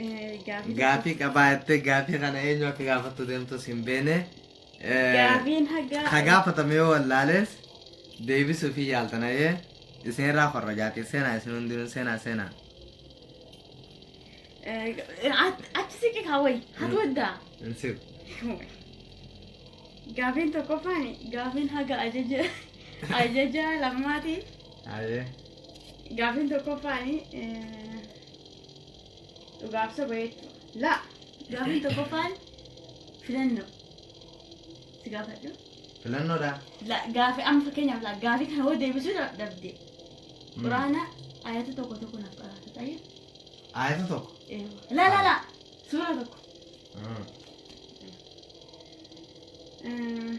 Eh, Gaafii Gaafii qabaa jettee gaafii kana eenyu akka gaafattu deemtus hin beene. Eh, Gaafiin hagaa. Ka gaafatame yoo wallaales deebisuuf hin yaaltan ayee isinirraa korrojaatii seenaa isin hundinuu seenaa seenaa. Eh, at- Achi siqi kaawwai. Hatu waddaa. Hin siqu. Gaafiin tokkoffaan gaafiin haga ajaja ajaja lammaati. Ayee. Gaafiin tokkoffaani eh, dhugaaf soba jechuu. La gaafiin tokkoffaan filannoo. Si gaafadhu. Filannoodha. La gaafi amma fakkeenyaaf la gaafii kana hoo deebisuu dha- dhabde. Mm. Quraana ayata tokko tokko naaf qaraata ta'ee. Ayata tokko. La la la suura tokko. Mm. Eh,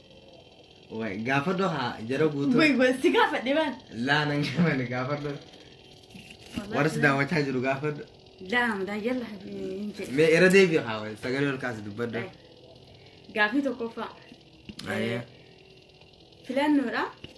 Way gaafadhu haa jara guutuu. Way way si gaafadhe baan. Laa nan gaafadhe gaafadhu. Warris daawwachaa jiru gaafadhu. Laa amdaa yalla hin jedhe. Mee irra deebi'u haa way sagalee ol kaasi dubbadhu. Gaafii tokkoffaa. Ayyee. Filannoodha.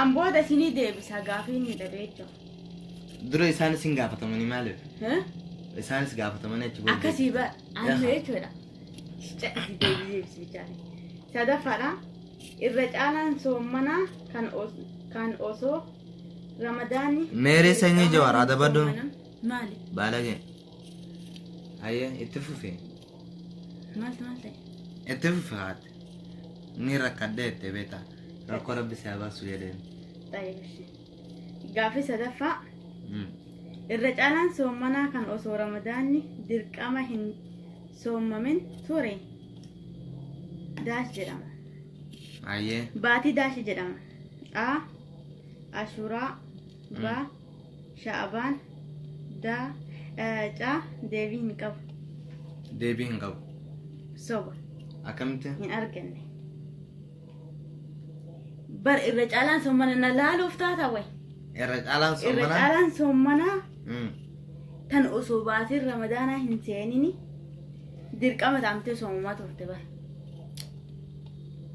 An booda isinii deebisa gaafii inni dadeecho. Dura isaanis hin gaafatamanii maaliif? Isaanis gaafatamanii achi booda. Akkasii ba amma Yaha. jechuudha. Caqasii deebii deebisi bichaanii. Sadaffaadha. Irra caalaan soommanaa kan os- kan osoo ramadaanni. Meerii sanyii Jawaar, adabadhu. Maali? Baalagee. Hayyee itti fufi. Maaltu maal ta'e? Itti fufi haati. Ni rakkadhee itti beeta. Rakkoo rabbi si habaasu jedheen. Xayibishi. Gaafii sadaffaa Mm. irra caalaan soommanaa kan osoo ramadaanni dirqama hin soommamin ture daash jedhama. Ayyee. Baatii daashi jedhama. A. Ashuraa. B. Sha'abaan da caa deebii hin qabu. Deebii hin qabu. Soba Akkamitti? hin arganne. Bar irra caalaan sommana na laaluuf taata way. Irra caalaan Irra soomana. caalaan sommanaa Mm. tan osoo baatiin ramadaanaa hin seenini dirqama taamtee soomamaa turte bara.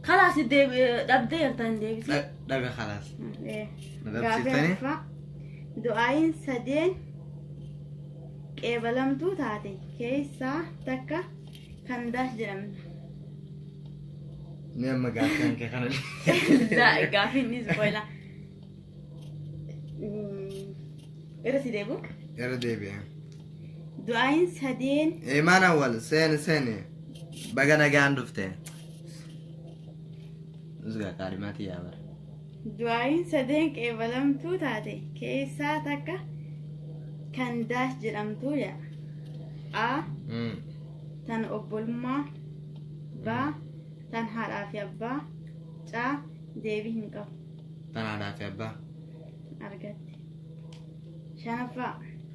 Kalaas dhabdee jirta hin deebisee. Dhaga kalaas. Gaafii afaa du'aayin sadeen qeebalamtuu taate keessaa takka kan daas jedhamna. Ni amma gaaffiin kee kana. Gaafii inni spoila. Irra si deebu. Irra deebi'ee. Du'aayin sadeen Imaan awwal seeni seeni baga nagaan dhufte. Usgaa qaadhimaati yaa bara. du'aayin sadeen qeebalamtuu taate keessaa takka kan daash jedhamtuu yaa. A. Mm. Tan obbolummaa. B. Tan haadhaa fi abbaa. C. Deebii hin qabu. Tan haadhaa fi abbaa. Argatte. Shanaffaa.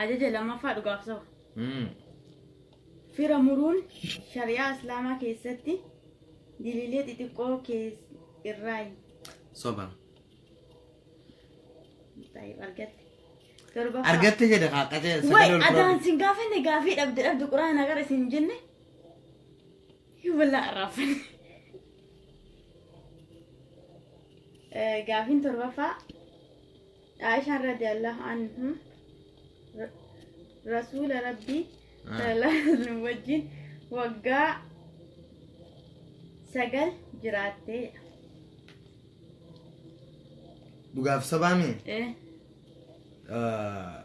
Ajaja lammaffaa dhugaaf saba. Mm. Fira muruun shari'aa islaamaa keessatti diliilee xixiqqoo kees irraayi. Soba. Taa'ib argatte. Torbaffaa. Argatte jedhe haa qacee Way sagalee ol adaan fudhatu. sin gaafanne gaafii dhabde dhabde quraana gara isin jenne. Hibalaa arraafan. Gaafiin torbaffaa Aishaan radiyallahu anhu ra- rasuula rabbii Ah. sallallahu alaihi wasallam wajjin waggaa sagal jiraattee Dhugaaf sabaa mee? eh, Ah,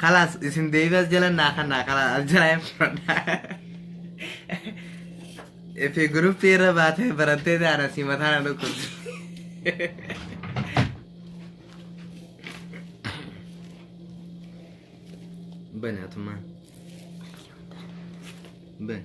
Kalaas isin deebii as jala naa kannaa kalaas as jala hin fudhadhaa. Ifi guruppii irra baatee barattee taana si mataa na dhukkubsi. Bani atumaan. Bani.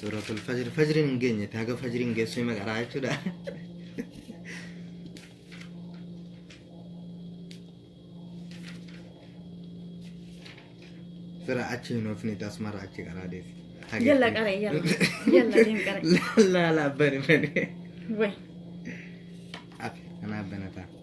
Suuratul fajri fajriin hin geenye taaga fajriin geessu hima qaraa jechuudha. Sira achi hin oofne tasmara achi qaraa deefi. Yalla qara yalla yalla deem qara. Laala abbani bane. Way. Afi anaa banataa.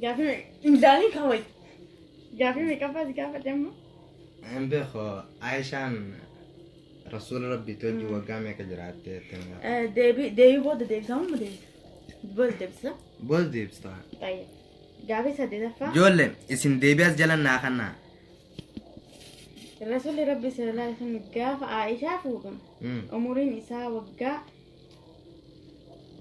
Gaafii me- imzaalii kaawwai. Gaafii meeqaffaas gaafate amma? Hin beeku Aishaan rasuula rabbii wajjin waggaa meeqa jiraatte jettee na gaafatte. Eh, Deebii deebii booda deebisaa amma deebisa. Booda deebisa. Booda deebista. Baay'ee. Gaafii saddeetaffaa. Ijoollee isin deebii as jala naa kannaa. Rasuulli Rabbi sallallahu alaihi wasallam gaafa Aishaa fuudhan Mm. umuriin isaa waggaa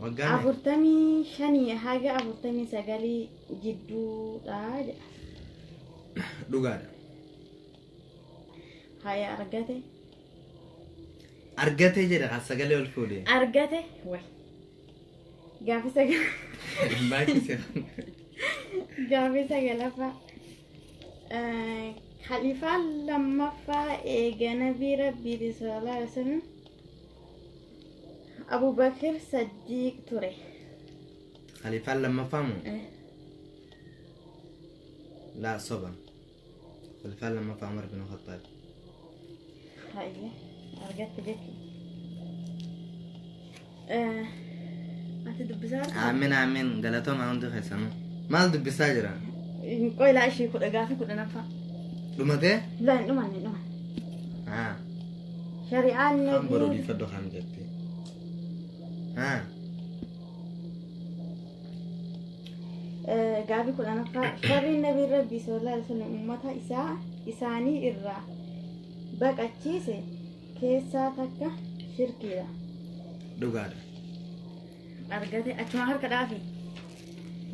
Waggaa meeqa? afurtamii shanii haga afurtamii sagalii jidduudha jedha Dhugaadha. haya argate Argatee jedha kan sagalee ol fuudhe. argate way gaaffii sagal Baay'ee seera. gaaffii sagalaffaa Khalifaan lammaffaa eega nabii rabbiiti sallallahu alaihi wasallam Abu Bakr Saddiiq ture. Khalifaan lammaffaa moo? Laa soba. Khalifaan lammaffaa Umar bin Khattaab. Hayyee argatte jechuudha. Ati dubbisaa Aamin aamin galatoomaa hundi keessanuu. Maal dubbisaa jira? Qoy laa ishii kudha gaafii kudha naffaa. Dhumatee? Laa hin dhumanne hin dhumanne. Haa. Shari'aan Kan boruu dhiifadhu kan jettee. Haa. Gaaffii kudhanaffaa farriin nabiin rabbii sallallahu alaihi wasallam ummata isaa isaanii irraa baqachiise keessaa takka shirkiidha. Dhugaadha. Argate achuma harka dhaafi.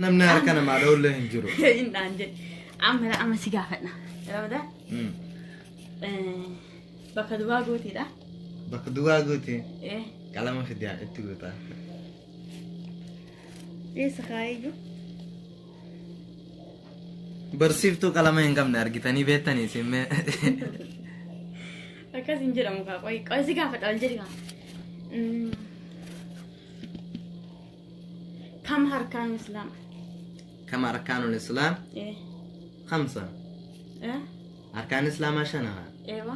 Namni harka namaa dhoollee hin jiru. Hindhaan jedhe. Amma dha amma si gaafadha. Rabda Mm. bakka duwwaa gootiidha. Bakka duwwaa guuti Eh, qalama fidaa itti guutaa. Eessa kaayayyu? Barsiiftuu qalama hin qabne argitanii beektanii isin mee. Akkas hin jedhamu kaa qoy qoy si gaafadha wal jedhi kaa. Mm. Kam harkaan islaam? Kam arkaanul islaam Eh. kamsa? Eh. Arkaan islaamaa shanaha. Eewa.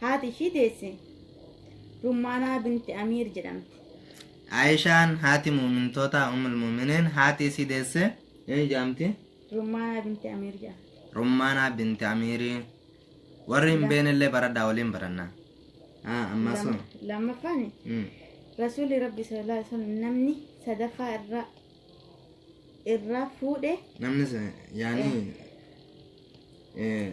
Haati ishii deesse Rummaanaa binti Amiir jedhamti. Aayishaan haati mu'mintootaa Ummul Mu'miniin haati isii deesse eenyu jedhamti? Rummaanaa binti Amiir jedhamti. Rummaanaa binti Amiirii. Warri hin beeknellee baradhaa waliin barannaa. Ah, ammas hoo? Lamma- Lammaffaan Mm. Rasuulli Rabbi sallallahu alaihi wasallam namni sadaffaa irraa irraa fuudhe Namni se- yaani eh,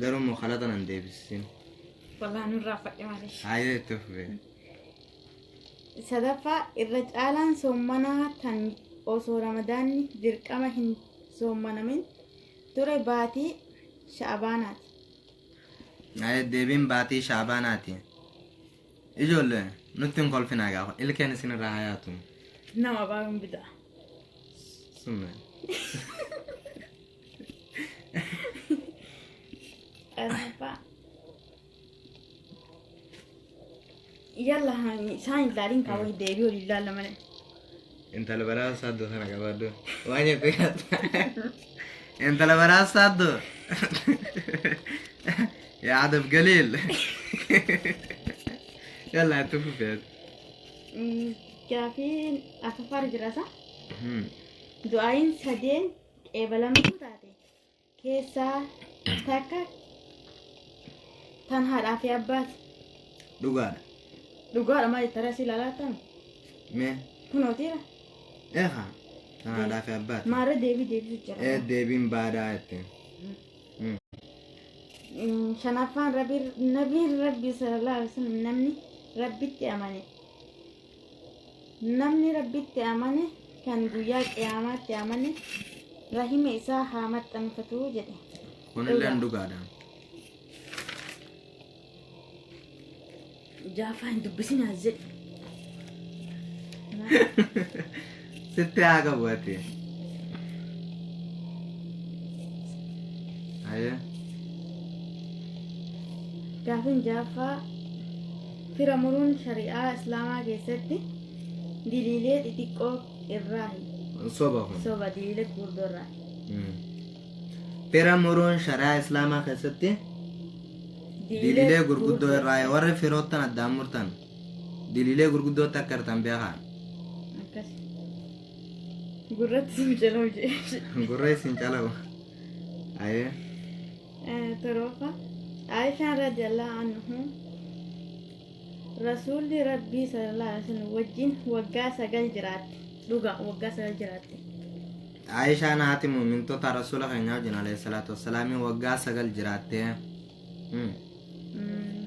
Garuu immoo kalaxa nan deebisin. Walaa nurraa fadhe malee. Haayee itti fufee. Sadaffaa irra caalaan soommanaa kan osoo ramadaanni dirqama hin soommanamin ture baatii sha'abaanaati. Haayee deebiin baatii shaabaanaati. Ijoollee nutti hin kolfinaa gaafa ilkeen isinirraa hayaatu. Nama baay'een bidaa. Summee. Arba. Yalla hani isaan hin laalin kaa wayii deebi'u hin laalla malee. Intala baraa saaddoo sana qabaaddu. Waa jette gaatta. Intala baraa saaddoo. Yaa adab galiil. Yalla itti fufeet. Gaafiin afafaar jirasa. Du'aayin sadeen qeebalamtuu taate keessaa takka tan haadhaa fi abbaati. Dhugaadha. Dhugaadha maal itti arasii lalaatan Mee kunootiira eegaa kan haadhaa fi abbaati. maarra deebii deebisu jira. Ee deebiin baadaa jetteen. Mm, Shanaffaan rabbiin rabbiin rabbii sallallahu alaihi wasallam namni rabbitti amane Namni Rabbitti amane kan guyyaa qiyaamaatti amane rahima isaa haa maxxanfatu jedhe. Kunilleen dhugaadha. Jaafaa hin dubbisinaas jedhe. Sitti haa qabu ati. Hayyee. Gaafin jaaffaa fira muruun shari'aa islaamaa keessatti diliilee xixiqqoo irraa Soba kun. soba diliilee gurguddoo irraa Fira muruun shari'aa islaamaa keessatti diliilee gurguddoo irraa warri firoottan addaan murtan. Diliilee gurguddootti akka hirtan beekaan. Akkas. Gurratti sii jalaa hojii. Gurra isin calawu. Ayee. Toroofa. Aishaan radiyallahu anhu Rasuulli Rabbii sallallahu alaihi wasallam wajjin waggaa sagal jiraatte. Dhugaa waggaa sagal jiraatte. Aishaan haati mu'mintoota rasuula keenyaa wajjin alayhi salaatu wassalaamii waggaa sagal jiraattee. Mm. Mm,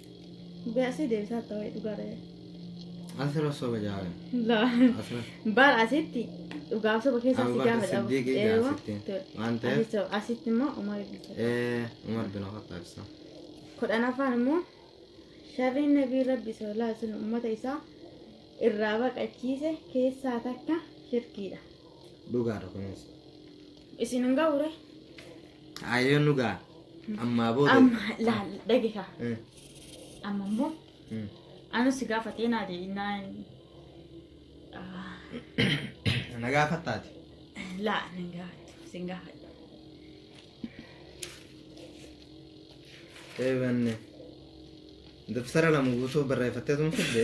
Beasii deebisaa akka wayii dhugaa ta'e. Asirra soba jaabe. Laa. Asirra. Baal asitti dhugaaf soba keessaa si Abubakar gaafa dhabu. Siddiiqii Eewa. gaafsitti. Tole. Waan ta'eef. Asitti soba. Asitti immoo Umar ibn Khattab. Ee, Umar bin Khattab ibsa. Kudhanaffaan immoo sharriin nabii rabbi sallallahu alaihi wasallam uummata isaa irraa baqachiise keessaa takka shirkiidha. Dhugaadha kunis. Isin hin ga'u ree? Ayyoo nu ga'a. Ammaa booda. Amma laal dhageekaa. Mm, Amma immoo mm. anu si gaafatee naa deebiinaa. Na gaafattaati. Laa nan gaafadhu sin gaafadhu. Eebanne. Dabtara lama guutuu barreeffattee tun fidde.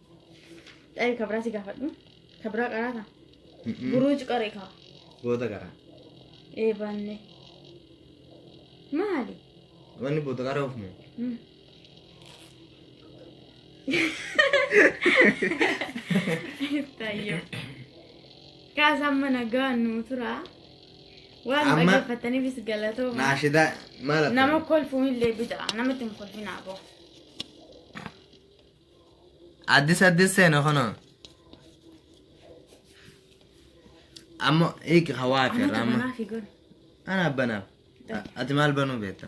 Dhayi ka biraa si gaafadhu. Ka biraa qaraata. Buruuj qare ka. Boota qara. Ee baanne. Maali? Wanni boota qara oofne. Mm. Tayyo. Kaasaan mana gahaan nuu tura. Waan Amma- dhaggeeffataniifis galatooma. Naashidaa maal akka? Nama kolfuun illee bidaa. Namatti hin kolfin aboo. Addis addis seena kunoo. Amma eegi hawaa fi irraa amma. Manaa fi goone. Ana banaaf. A- Ati maal banuu beekta?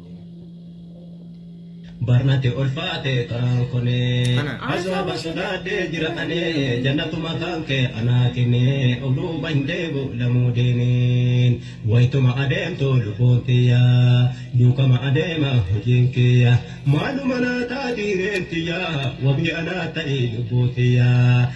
barnate ulfaate karaan kunee Kana. azaaba sodaadhee jira anee jannatuma kan kee anaa kennee of duuba hin deebu lamuu deeniin wayituma adeemtu lubbuun tiyya duukama adeema hojiin kiyya maaluma naa taati reen tiyya wabii anaa ta'i lubbuu tiyya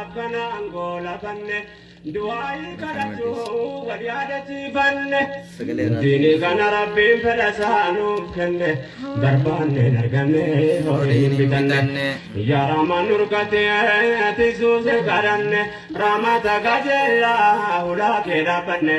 akkana angoo lafanne du'aayii kadhachuu wal yaadachiifanne diini kana rabbiin fedha isaa nuuf kenne barbaanne hin arganne horii hin bitanne yaa raamaa nurkatee ati suuse kadhanne raamata qajeelaa ulaa kee dhaabbanne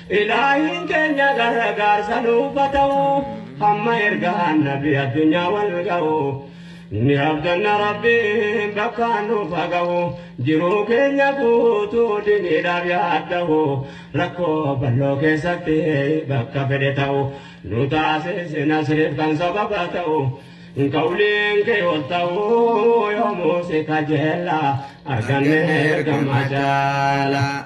Ilaahiin keenya gargaarsa nuuf ha ta'u Hamma ergaan nabi addunyaa wal ga'u Ni abdanna Rabbiin bakkaan nuuf ha ga'u Jiruu keenya guutuu diniidhaaf yaadda'u Rakkoo bal'oo keessatti bakka fedhe ta'u Nu taasisi nasriif kan sababa ta'u Qawliin kee ol ta'u yoomuu si kajeella Arganne ergamaa jaala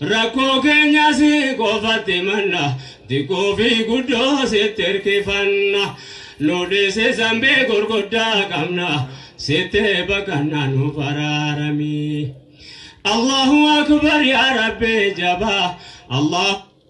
Rakkoo keenya si qofatti himanna, xiqqoo fi guddoo sitti hirkifanna. Nu dhiisi zambii gurguddaa qabna, sitti baqanna nu baraarami. Allahu akbar yaa Rabbi jabaa, Allah.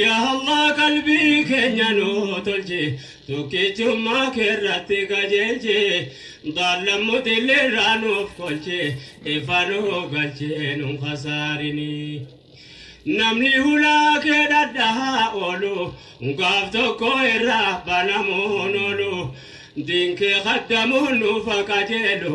Yaa Allah qalbii keenya nuu tolchi Tokkichummaa keerratti qajeelchi Baallammu dilliirraa nuuf kolchi Ifa nuu galchi nun khasaarini Namni hulaa kee dhadhahaa oolu Gaaf tokko irraa banamuun oolu Diin kee khaddamuun nuuf qajeelu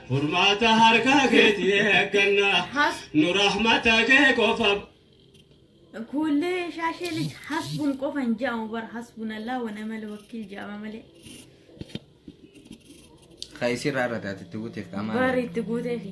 Furmaata harka keeti eegganna. Has. Nu rahmata kee qofa. Kuullee shaashee lij hasbun qofa hin jedhamu bar hasbun allaa wa ni'mal wakiil jedhama malee. Ka isirraa irra taate itti guuteef qaamaa. Bar itti guuteefi.